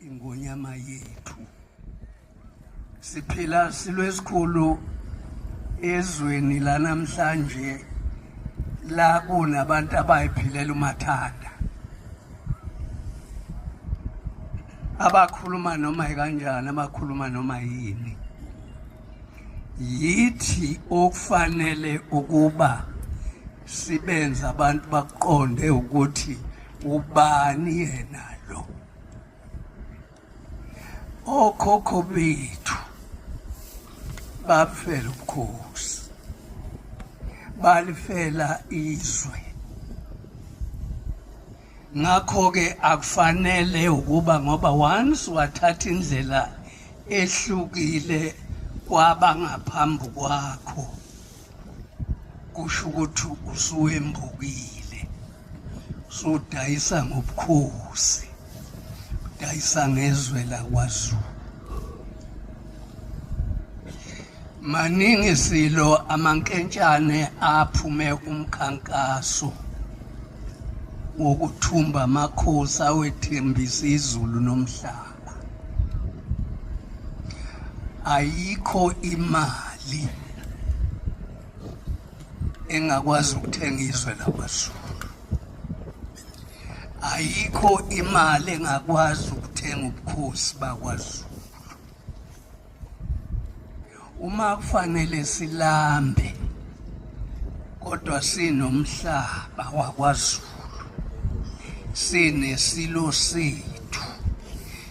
ingonyama yethu siphila silwesikhulu ezweni lanamhlanje la kunabantu abayiphilela umathanda abakhuluma noma yikanjani abakhuluma noma yini yithi okufanele ukuba sibenza abantu baqonde ukuthi ubani yena lo okhokho bethu bafela ubukhosi balifela izwe ngakho-ke akufanele ukuba ngoba once wathatha indlela ehlukile kwabangaphambi kwakho kusho ukuthi usuwembukile sudayisa ngobukhosi udayisa ngezwe lakwazulu maningi silo amankentshane aphume umkhankaso wokuthumba amakhosi awethembisa izulu nomhlaba ayikho imali engakwazi ukuthenga izwe lakwazulu ayikho imali engakwazi ukuthenga ubukhosi bakwazulu uma kufanele silambe kodwa sinomhlaba wakwaZulu sinesilo sethu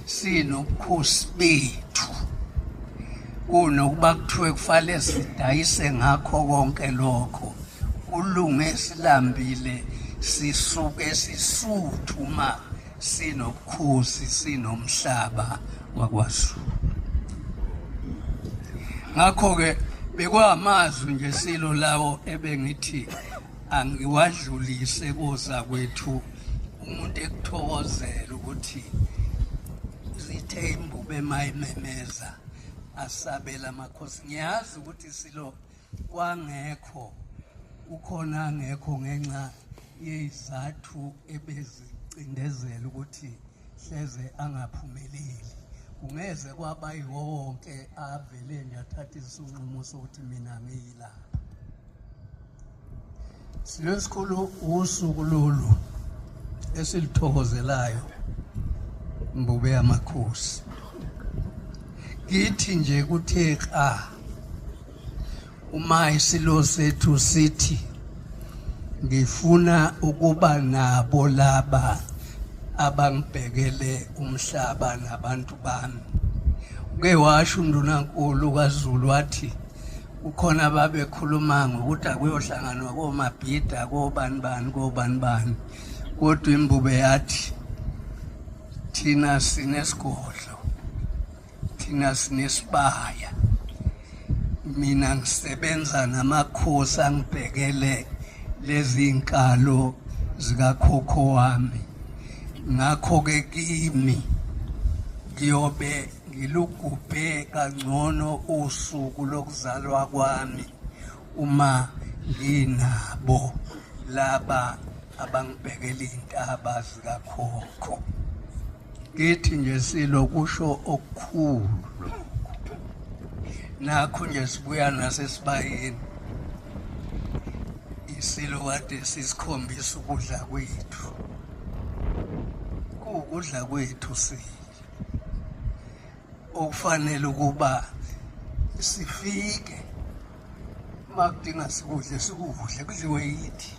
sinobukhosi bethu kunokuba kuthiwe kufanele sidayise ngakho konke lokho kulunge silambile sisuke sisuthu ma sinobukhosi sinomhlaba wakwaZulu ngakho-ke bekwamazwi nje silo lawo ebengithi angiwadlulise koza kwethu umuntu ekuthokozela ukuthi zithe imbube mayimemeza asabela amakhosi ngiyazi ukuthi silo kwangekho ukhona angekho ngenxa yezizathu ebezicindezela ukuthi hleze angaphumeleli kungeze kwaba yiwo wonke avele nje athathe isinqumo sokuthi mina ngiyilapha Silweni sikhulu usuku lolu esilithokozelayo mbube yamakhosi kithi nje kuthe xa uma isilo sethu sithi ngifuna ukuba nabo laba abangibhekele umhlaba nabantu bami uke washo undunankulu kaZulu wathi kukhona ababekhuluma ngokuthi akuyohlanganwa komabhida kobani bani kobani bani kodwa imbube yathi thina sinesigodlo thina sinesibaya mina ngisebenza namakhosi angibhekele lezi nkalo zikakhokho wami ngakho-ke kimi ngiyobe ngilugubhe kangcono usuku lokuzalwa kwami uma nginabo laba abangibhekela iy'ntaba zikakhokho ngithi nje silo kusho okukhulu nakho nje sibuya nasesibayeni isilo kade sisikhombisa ukudla kwethu kuwukudla kwethu silo okufanele ukuba sifike makudinga sikudle sikudle kudliwe yithi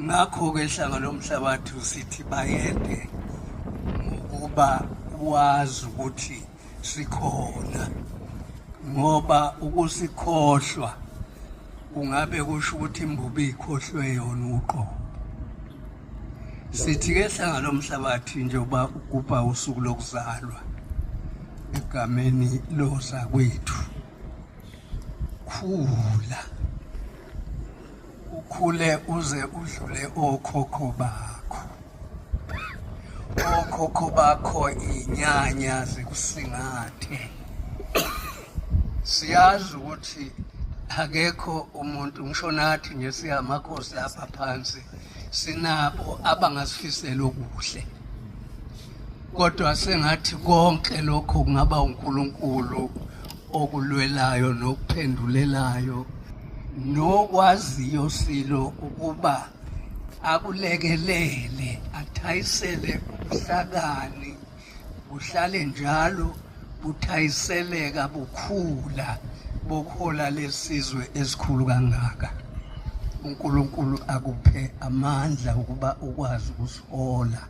ngakho-ke ihlanga lomhlabathi usithi bayede ngokuba wazi ukuthi sikhona ngoba ukusikhohlwa kungabe kusho ukuthi imbubi ikhohlwe yona uqobo sithi ke hlanga lomhlabathi njengoba ugubha usuku lokuzalwa egameni lozakwethu khula ukhule uze udlule okhokho bakho okhokho bakho inyanya zikusingathe siyazi ukuthi akekho umuntu ngisho nathi nje siyamakhosi lapha phansi sinabo abangasifisela okuhle kodwa sengathi konke lokho kungaba uNkulunkulu okulwelayo nokuphendulelayo nokwaziyo silo ukuba akulekelele athayisele ubuhlakani buhlale njalo buthayiseleka bukhula bokuhola lesizwe esikhulu kangaka uNkulunkulu akuphe amandla ukuba ukwazi ukusihola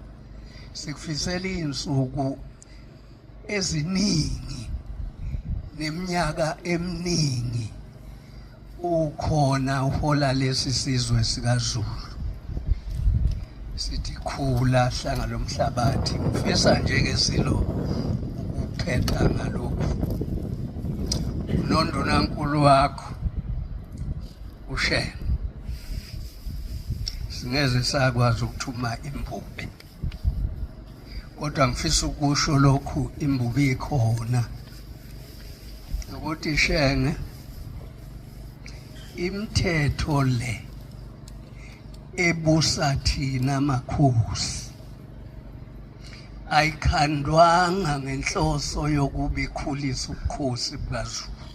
sikufisela izinsuku eziningi neminyaka eminingi ukhona uhola lesi sizwe sikaZulu sithi khula hlanga lomhlabathi ngifisa nje ke silo ukuphetha ngalokhu nondunankulu wakho ushenge singeze sakwazi ukuthuma imbube kodwa ngifisa ukusho lokhu imbubi ikhona ukuthi shenge imithetho le ebusa thina makhosi ayikhandwanga ngenhloso yokuba ikhulise ubukhosi bukaZulu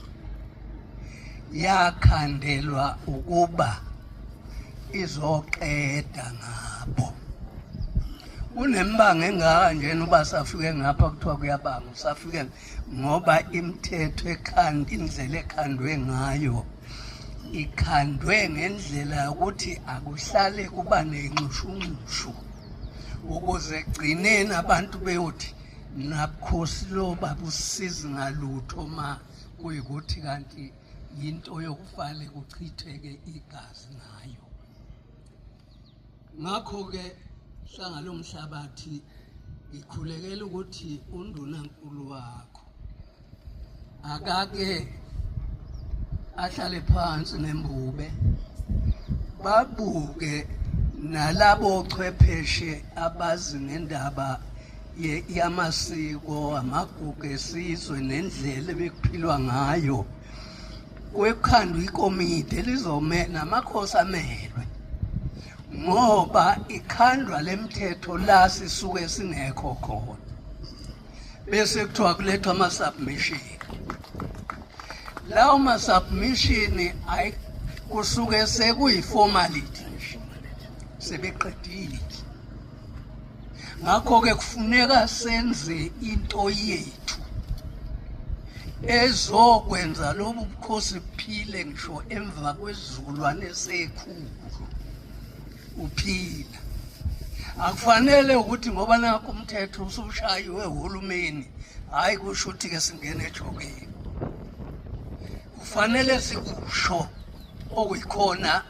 yakhandelwa ukuba izoqeda ngabo kunembanga engaka njena uba safike ngapha kuthiwa kuyabanga usafike ngoba imithetho ekhanda indlela ekhandwe ngayo ikhandwe ngendlela yokuthi akuhlale kuba nenxushunxushu ukuze gcineni abantu beyothi nakhosi lo babusizi ngalutho ma kuyikuthi kanti yinto yokufale kuchitheke igazi ngayo ngakho-ke hlanga lomhlabathi ngikhulekela ukuthi undunankulu wakho akake ahlale phansi nembube babuke nalabo chwepheshe abazi ngendaba yamasiko amagugu esizwe nendlela ebekuphilwa ngayo kwekhandwa ikomidi elizomela amakhosi amelwe ngoba ikhandwa lemthetho la sisuke singekho khona bese kuthiwa kulethwa ama-submission lawo ma-submission kusuke sekuyi-formality nje sebeqedile ngakho-ke kufuneka senze into yethu ezokwenza lobu bukhosi buphile ngisho emva kwesizukulwane sekhulu uphila akufanele ukuthi ngoba nakho umthetho usushayiwe uhulumeni hhayi kusho ukuthi-ke singene ejokeni kufanele sikusho okuyikhona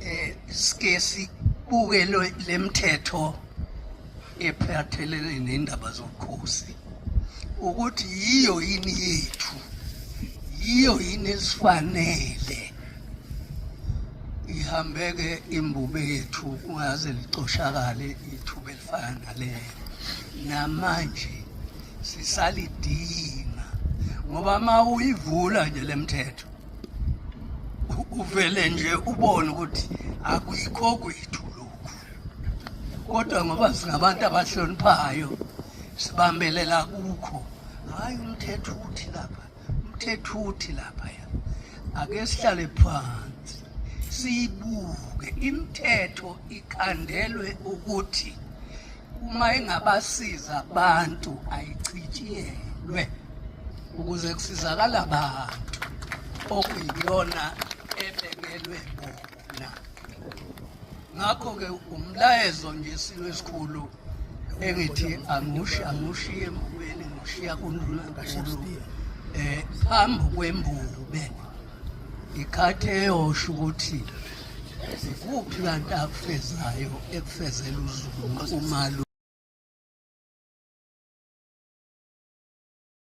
eh sike sibuke lemthetho ephathelene nendaba zobukhosi ukuthi yiyo yini yethu yiyo yini esifanele ihambeke imbube yethu kungaze licoshakale ithuba elifana nalelo namanje sisalidinga ngoba uma uyivula nje le mthetho uvele nje ubone ukuthi akuyikho kwethu lokhu kodwa ngoba singabantu abahloniphayo sibambelela kukho hhayi umthetho uthi lapha umthetho uthi laphaya ake sihlale phansi siyibuke imithetho ikhandelwe ukuthi uma engabasiza abantu ayichitshiyelwe ukuze kusizakala abantu okuyiyona ebekelwe bona ngakho-ke umlayezo nje silo esikhulu engithi angushi angushi embukweni ngushiya kundlula kakhulu um phambi kwembube ikhathi eyosho ukuthi zikuphi kanti akufezayo ekufezela uzulu umalu